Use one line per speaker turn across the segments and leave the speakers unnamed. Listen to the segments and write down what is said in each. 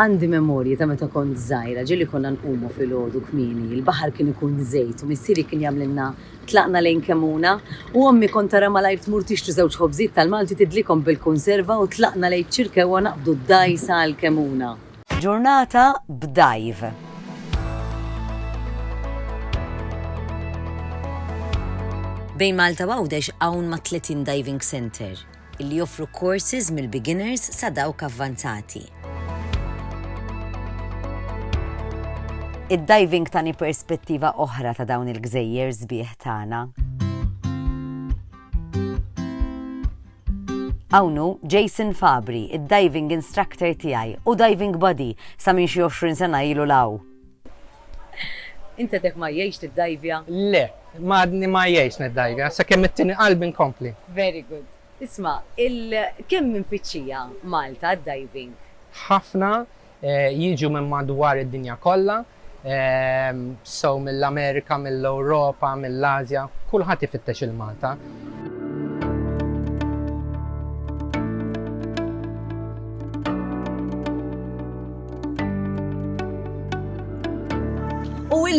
Għandi memorji ta' meta kont żgħira, ġieli konna nqumu filgħodu kmieni, il-baħar kien ikun żejt u missieri kien jagħmlilna tlaqna lejn Kemmuna u ommi kont tara malajr tmur tixtri żewġ ħobżiet tal-Malti tidlikhom bil-kunserva u tlaqna lejn Ċirkewwa naqbdu d-dgħajsa għal Kemmuna. Ġurnata b'dive. Bejn Malta u Għawdex hawn mat-30 diving centre. li joffru courses mill-beginners sa dawk avvanzati. Id-diving tani perspettiva oħra ta' dawn il-gżejjer sbieħ tagħna. Hawn hu Jason Fabri, id-diving instructor tiegħi u diving buddy sa minn xi 20 sena ilu 'l hawn. Int għedek ma jgħix tiddajvja? Le, ma għadni ma jgħix niddajvja, sakemm it-tieni qalbi nkompli. Very good. Isma', il kemm minn tfittxija Malta d-diving? Ħafna, jiġu minn madwar id-dinja kollha, so mill-Amerika, mill-Ewropa, mill-Ażja, kulħadd ifittex il-Malta.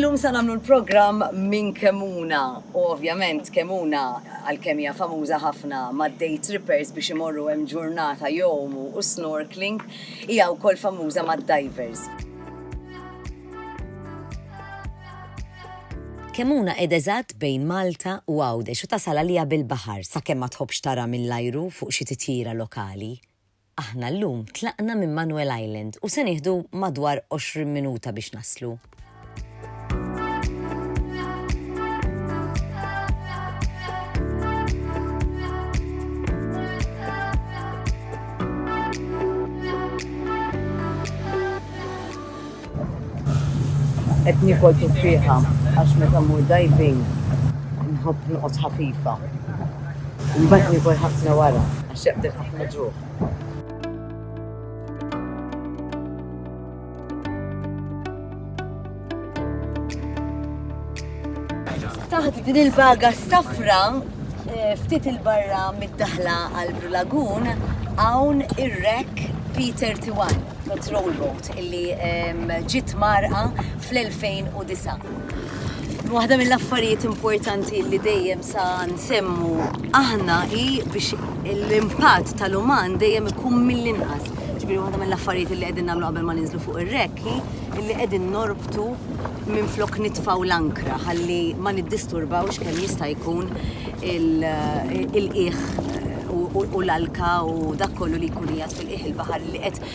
Illum sa nagħmlu l-programm minn Kemuna u ovvjament Kemuna għalkemm hija famuża ħafna mad-day trippers biex imorru hemm ġurnata jowmu u snorkeling hija wkoll famuża mad-divers. Kemmuna qiegħda eżatt bejn Malta u Għawdex u tasal għaliha bil-baħar sakemm ma tħobbx tara mill-ajru fuq xi titjira lokali. Aħna llum tlaqna minn Manuel Island u se nieħdu madwar 20 minuta biex naslu. Qed niekol tifrieħa għax meta mmur diving nħobb noqgħod ħafifa. Imbagħad niekol ħafna wara għax jaqbdek ħafna ġuħ. taħt din il-baga safra eh, ftit il-barra mid-daħla għal Brulagun hawn ir-rek Peter Tiwan, patrol boat. illi ġiet mgħarrqa fl-2009. Waħda mill-affarijiet importanti li dejjem sa nsemmu aħna hi biex l-impatt tal-uman dejjem ikun mill-inqas. Ġifieri waħda mill-affarijiet li qegħdin nagħmlu qabel ma ninżlu fuq ir-rekk hi li qegħdin norbtu minflok nitfgħu l-ankra ħalli ma niddisturbawx kemm jista' jkun il-qiegħ u l-alka u dak kollu li jkun qiegħed fil-qiegħ il-baħar li qed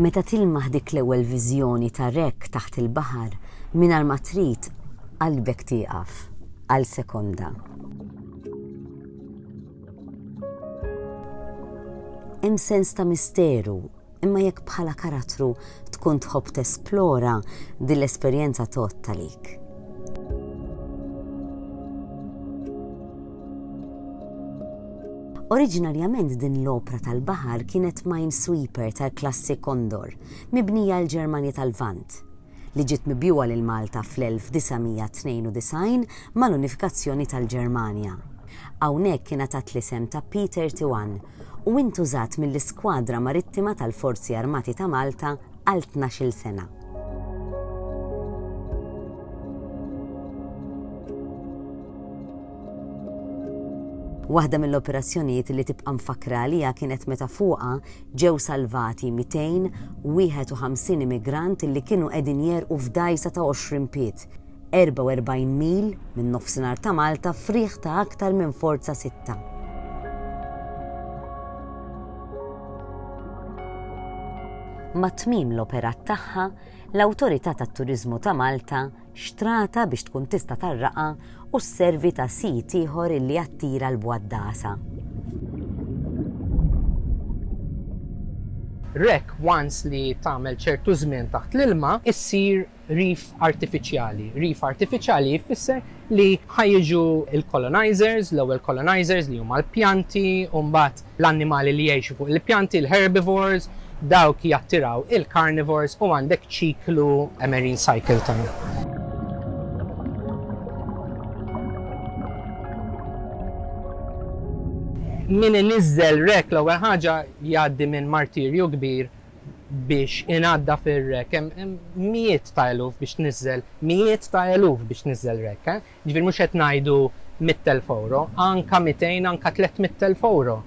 Meta tilmaħ dik l-ewwel viżjoni ta' rekk taħt il-baħar, mingħajr ma trid qalbek tieqaf għal sekonda. Hemm sens ta' misteru Imma jekk bħala karattru tkun tħobb tesplora, din l-esperjenza tgħodd għalik. Oriġinarjament din l-opra tal-baħar kienet Minesweeper tal-klassi Condor, mibnija l-Ġermanja tal-Lvant, li ġiet mibjugħa lil Malta fl-1992 mal-unifikazzjoni tal-Ġermanja. Hawnhekk ingħatat l-isem ta' Peter Tiwan u intużat mill-Iskwadra Marittima tal-Forzi Armati ta' Malta għal tnax-il sena. Waħda mill-operazzjonijiet li tibqa' mfakkra għaliha kienet meta fuqha ġew salvati 251 immigrant li kienu qegħdin jegħrqu f'dgħajsa ta' 20 pied. 44 mil minn Nofsinhar ta' Malta f'riħ ta' aktar minn Forza Sitta. ma' tmiem l-operat tagħha, l-Awtorità tat-Turiżmu ta' Malta xtrata biex tkun tista' tarraqha u sservi ta' sit ieħor illi jattira l-bwaddasa. Rek once li tagħmel ċertu żmien taħt l-ilma issir Reef artifiċjali, Reef artifiċjali jfisser li ħa jiġu l-colonizers, l-ewwel colonizers li huma l-pjanti u mbagħad l-annimali li jgħixu fuq il-pjanti, l-herbivores, dawk jattiraw il-carnivores u għandek ċiklu, a marine cycle, ta'. Min iniżżel wreck l-ewwel ħaġa jgħaddi minn martirju kbir biex inaddaf ir-rack, hemm mijiet ta' eluf biex tniżżel, mijiet ta' eluf biex tniżżel rack, eh. Jiġifieri mhux qed ngħidu mitt elf ewro, anka mitejn, anka tlett mitt elf ewro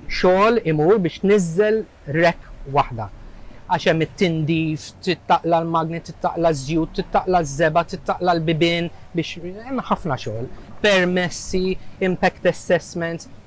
xogħol imur biex tniżżel rack waħda. Għax hemm it-tindif, trid taqla' l-magni, trid taqla' ż-żjut, trid taqla' ż-żebgħa, trid taqla' l-bibien biex, hemm ħafna xogħol. Permessi, impact assessments.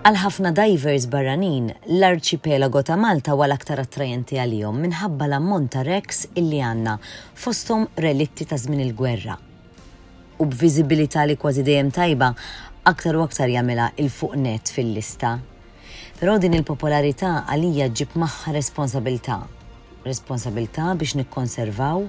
Għal ħafna dajvers barranin, l-arċipelago ta' Malta huwa l-aktar attrajenti għalihom minħabba l-ammont ta' wrecks illi għandna, fosthom relitti ta' żmien il-gwerra. U b'viżibilità li kważi dejjem tajba, aktar u aktar jagħmilha 'l fuq nett fil-lista. Però din il-popolarità għalija ġġib magħha responsabiltà. Responsabiltà biex nikkonservaw,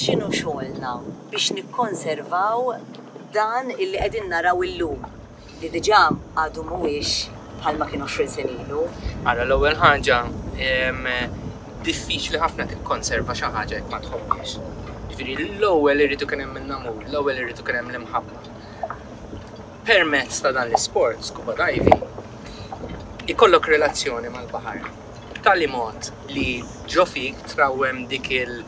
X'inhu xogħolna biex nikkonservaw dan illi qegħdin naraw illum li diġà għadu mhuwiex bħalma kien għoxrin sena ilu? Ara, l-ewwel ħaġa, diffiċli ħafna tikkonserva xi ħaġa jekk ma tħobbhiex. Jiġifieri l-ewwel irid ikun hemm in-namur, l-ewwel irid ikun hemm l-imħabba. Permezz ta' dan l-isport, scuba diving, ikollok relazzjoni mal-baħar b'tali mod li ġo fik trawwem dik il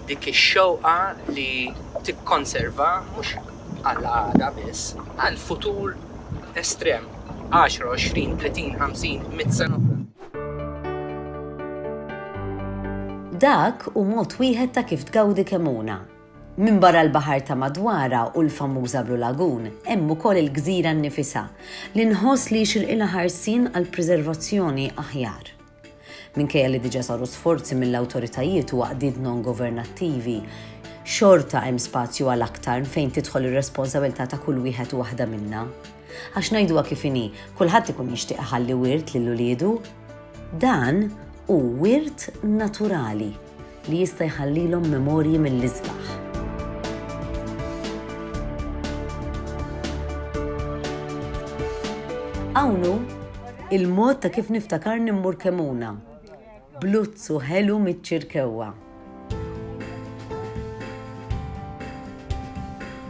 dik ix-xewqa li tikkonserva mhux għal għada biss, għal futur estrem, għaxra, għoxrin, tletin, ħamsin, mitt sena oħra. Dak hu mod wieħed ta' kif tgawdi kemmuna. Minbarra l-baħar ta' madwarha u l-famuża Blue Lagoon, hemm ukoll il-gżira nnifisha, li nħoss li jixirqilha ħarsien għal preservazzjoni aħjar. Minkejja li diġà saru sforzi mill-awtoritajiet u għaqdiet non-governattivi, xorta hemm spazju għal aktar fejn tidħol ir-responsabilità ta' kull wieħed u waħda minna. Għax ngħiduha kif inhi, kulħadd ikun jixtieq iħalli wirt lil uliedu. Dan hu wirt naturali. li jista' jħallilhom memorji mill-isbaħ. Hawn hu l-mod ta' kif niftakarni mmur Kemmuna, b'luzzu ħelu miċ-Ċirkewwa.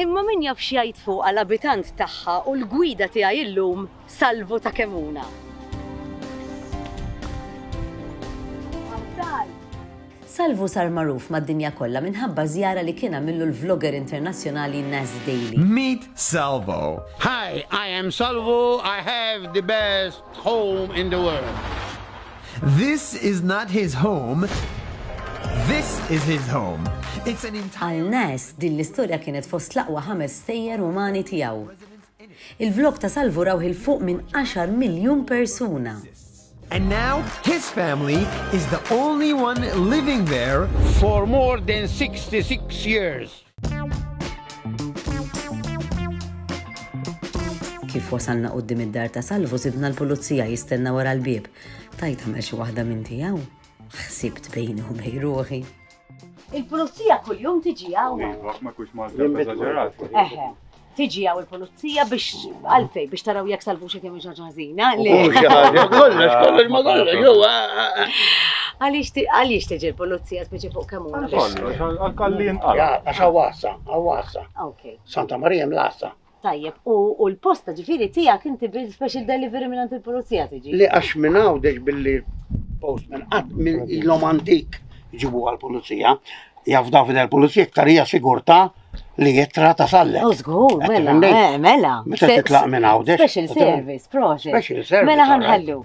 Imma min jaf x'jgħid fuqha l-abitant tagħha u l-gwida tiegħi illum Salvu ta' Kemuna. Salvu sar magħruf mad-dinja kollha minħabba żjara li kien għamillu l-vlogger internazzjonali Naz Daily. Meet Salvu! Hi, I am Salvu, I have the best home in the world. This is not his home, this is his home. It's an entire. Għal Naz, din l-istorja kienet fost l-aqwa ħames stejjer umani tiegħu. Il-vlog ta' Salvu rawh 'il fuq minn għaxar miljun persuna! And now his family is the only one living there for more than 66 years! Kif wasalna quddiem id-dar ta' Salvu sidna l-pulizija jistenna wara l-bieb. Tgħid tagħmel xi waħda minn tiegħu? Ħsibt bejni u bejn ruħi. Il-pulizija kuljum tiġi hawn. Iva, ma kux ma eżaġerat. Eħe tiġi għaw il-polizija biex għalfej biex taraw jek salvu xie kemm ġaġa ħażina. Kollox, kollox, ma kollox, jow. Għaliex tiġi l-polizija speċi fuq kemm huma. Kollox, għal-kallin għal. Għax għawassa, għawassa. Santa Marija mlassa. Tajjeb, u u l-post ta' ġifieri tiegħek inti bil-special delivery mingħand il-pulizija tiġi? Le għax minn għawdex billi postman qatt minn ilhom antik ġibu għall-pulizija. Jaf David għall-pulizija iktar hija sigurtà li jittra ta' sallek. U żgur, Qed mela, tifhem lejn? eh, mela. Meta titlaq minn għawdex. Special u tibgħat- service, proxy. Special service, Mela all right. ħanħallu.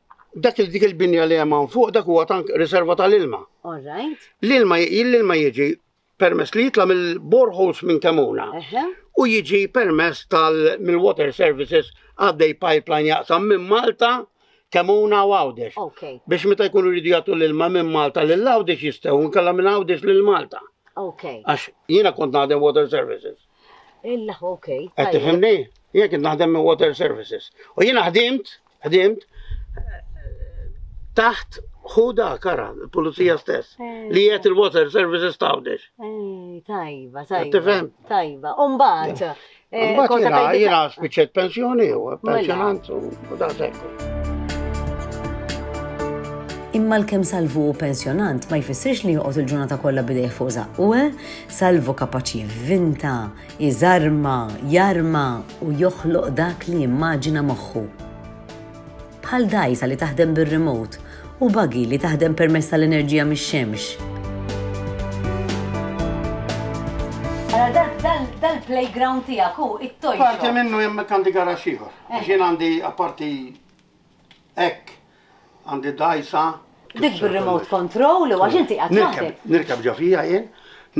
Dak il dik il-binja li hemm fuq dak huwa tank riserva tal-ilma. All right. L-ilma l-ilma jiġi permess li jitla' mill-boreholes minn Kemuna u jiġi permess tal mill-water services għaddej pipeline jaqsam minn Malta Kemuna u Għawdex. Biex meta jkunu rridu jagħtu l-ilma minn Malta lil Għawdex jistgħu nkella minn Għawdex lil Malta. Għax jiena kont naħdem water services. Illa, ok. Qed tifhimni? Jien kien naħdem minn Water Services. U jien ħdimt, ħdimt taħt ħuda kara, il-pulizija stess, eh. li jiet il-water services tawdex. Eh, tajba, tajba. Tajba, umbat. Eh, umbat jena, jena spiċet pensjoni u mela. pensjonant u da sekku. Imma l-kem salvu u pensjonant ma jfissirx li joqgħod il-ġurnata kollha bidejh fuq zaqqu, Salvu kapaċi jivvinta, iżarma, jarma u joħloq dak li jimmaġina moħħu. Bħal dgħajsa li taħdem bir-remote u buggy li taħdem permezz tal-enerġija mix-xemx. Mela dal-playground tiegħek hu it-toy shop. Parti minnu hemm għandi garaxx ieħor. Għax jien għandi apparti Hekk, għandi dgħajsa. Dik bir-remote control u għax inti qiegħed waħdek. Nirkeb ġo fija jien,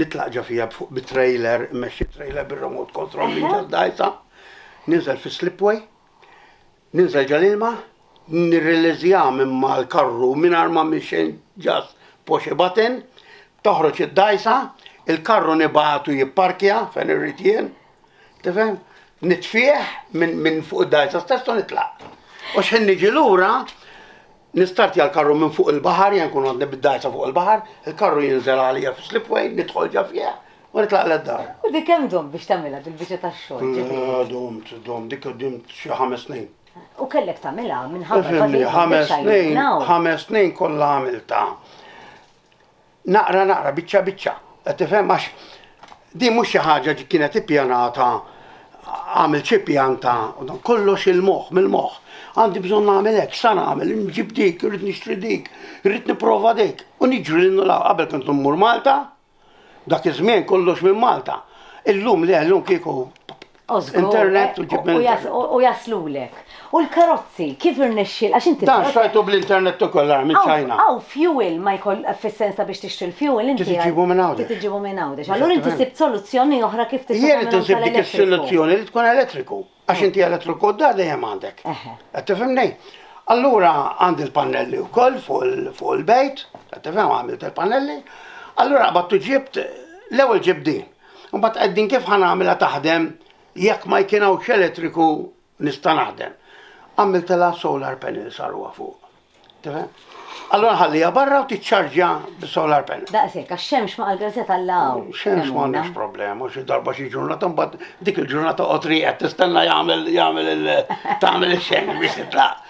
nitlaq ġo fija fuq bit-trailer, immexxi trailer bir-remote control minn ġo d-dgħajsa, ninżel fis-slipway, ninżel ġo l-ilma, nirriliżja minn mal-karru mingħajr ma minn xejn ġas push a button, toħroġ id-dgħajsa, il-karru nibgħatu jipparkja fejn irrid jien. Tifhem? Nitfieħ minn fuq id-dar ta' stess u nitlaq. U xħin niġi lura, nistart jal karru minn fuq il-bahar, jen kun għodni bid-dar ta' fuq il-bahar, il-karru jinżel għalija fi slipway, nitħol ġa fieħ, u nitlaq l-dar. U dik hemm dom biex tagħmilha dil-biċċa tax-xogħol. Dom, dom, dik dom xi ħames snin. U kellek tagħmilha minħabba ħames snin, ħames snin kollha għamilta. Naqra naqra, biċċa biċċa, qed tifhem? Għax din mhux xi ħaġa ġi kienet ippjanata għamil xi pjan ta' kollox il-moħħ mill-moħħ. Għandi bżonn nagħmel hekk, sa nagħmel, nġib dik, irrid nixtri dik, irrid nipprova dik. U niġri lil nula qabel kont mmur Malta, dak iż-żmien kollox minn Malta. Illum le, illum kieku Internet u ġib minn. U jaslulek. U l-karozzi, kif irnexxi, għax inti. Dan xtrajtu bl-internet u kollha minn China. Aw, fuel ma jkoll fis-sensa biex tixtri l-fuel inti. Trid iġibu minn Għawdex. Trid iġibu minn Għawdex. Allura inti sibt soluzzjoni oħra kif tista' tagħmel. Jien insib dik is-soluzzjoni li tkun elettriku. Għax inti elettriku d-dar dejjem għandek. Qed tifhimni? Allura għandi l-pannelli wkoll fuq il-bejt, qed tifhem għamilt il-pannelli. Allura qabadt u ġibt l-ewwel ġibt din. Imbagħad qegħdin kif ħa nagħmilha taħdem jekk ma jkien hawnx elettriku nista' naħdem. Għamiltilha solar panel saruha fuq. Tifhem? Allora nħallija barra u tiċċarġja bis-solar panel. Daqshekk għax xemx ma għall-grazet allaw. Xemx ma għandix problema, xi darba xi ġurnata mbagħad dik il-ġurnata qotri qed tistenna jagħmel jagħmel il tagħmel ix-xemx biex titlaq.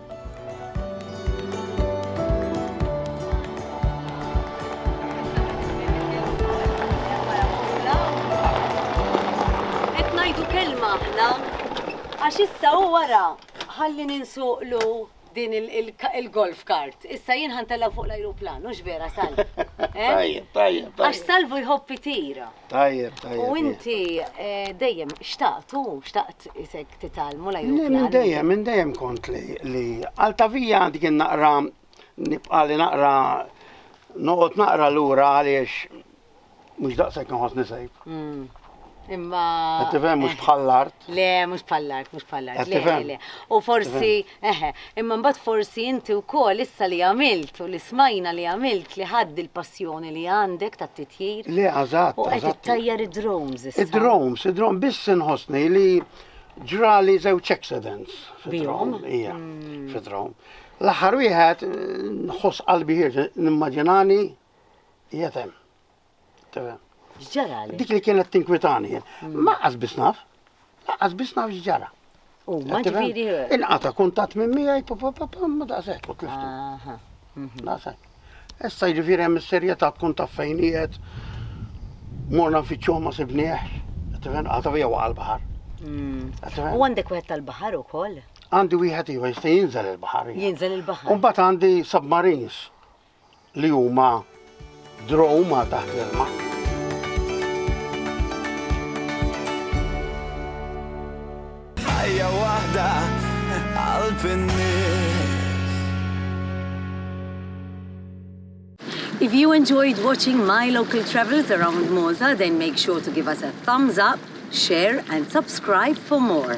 Qed ngħidu kelma aħna għax issa hu wara ħalli ninsuqlu din il-golf cart. Issa jien ħa ntellgħu fuq l-ajruplan, hux vera Salv? Tajjeb, tajjeb. Għax Salvu jħobb itir. Tajjeb, tajjeb. U inti eh, dejjem xtaqt u xtaqt isek titalmu la jukla. Minn dejjem, minn dejjem kont li li għaltavija għandi kien naqra nibqa' li naqra noqgħod naqra lura għaliex mhux daqshekk nħoss nisejb. Mm. Imma. Qed tifhem mhux eh, bħall-art. Le, mhux bħall-art, mhux bħall-art. Le, le. U forsi Eħe, imma mbagħad forsi inti wkoll issa li għamilt u li smajna li għamilt li ħadt dil-passjoni li għandek tat-titjir. Le, eżatt. U qed ittajjar id-drones issa. Id-drones, id-drones, biss inħossni li ġrali żewġ accidents. Bihom? Ija, mm. fid-drone. L-aħħar wieħed nħoss qalbi ħirġ nimmaġinani jetem. X'ġara li? Dik li kienet tinkwitani. Mm. Ma qasbis naf, qas biss naf x'ġara. U ma ġifieri. Inqata kuntatt minn miegħi papapapam ma daqshekk u tliftu. Mhm. Daqshekk. Issa jiġifieri hemm is-serjetà tkun taf fejn qiegħed morna nfittxuh ma sibnieh, tifen qata vija waqa' l-baħar. Mm. U għandek wieħed tal-baħar ukoll? Għandi wieħed ieħor jista' jinżel il-baħar. Jinżel il-baħar. U mbagħad għandi submarines. li huma droma taħt l-ilma. ħajja waħda qalb in-nies. If you enjoyed watching my local travels around Malta, then make sure to give us a thumbs up, share and subscribe for more.